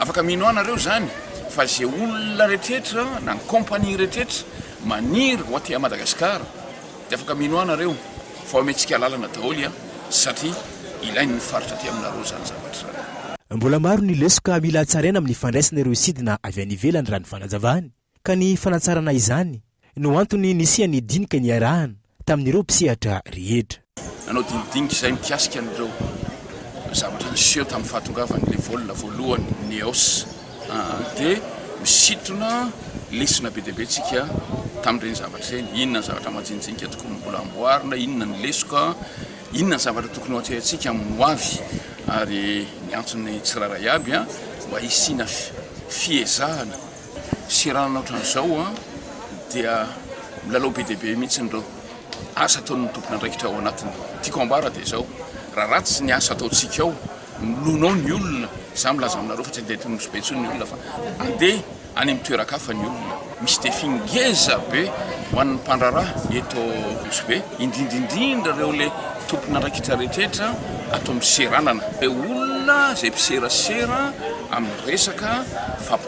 Afaka mino ahy nareo zany fa ze olona retretra na ny compagnie retretra maniry ho aty Madagascar de afaka mino ahy nareo fa omentsika alalana daholy an satri ilain ny faritra aty aminareo zany zavatra zany. Mbola maro ny lesoka mila hatsaraina amin'ny fandraisana ireo sidina avy any ivelany raha ny fanazavany. ka ny fanatsarana izany no antony nisian'ny dinika niarahana tamin'ireo mpisehatra rehetra. Nanao dinidinika izahay mikasika an'ireo zavatra niseho tamin'ny fahatongavan'ilay vol voalohany Neos dia misintona lesona be dia be tsika tamin'ireny zavatra ireny, inona ny zavatra majinijinika tokony ho mbola amboarina, inona ny lesoka, inona ny zavatra tokony ho atrehantsika amin'ny ho avy ary niantso ny tsirairay aby mba hisiana fiezahana. Seranana ohatran'izao dia milalao be dia be mihitsy ireo asa ataon'ny tompon'andraikitra ao anatiny. Tiako ambara dia izao, raha ratsy ny asa ataontsika ao, milonao ny olona, izaho milaza aminareo fa tsy handeha aty Nosy-Be intsony ny olona fa handeha any amin'ny toeran-kafa ny olona. Misy défi ngeza be ho an'ny mpandraharaha eto Nosy-Be, indrindra indrindra ireo ilay tompon'andraikitra rehetra ato amin'ny seranana, ireo olona izay mpiserasera amin'ny resaka fampirantiana.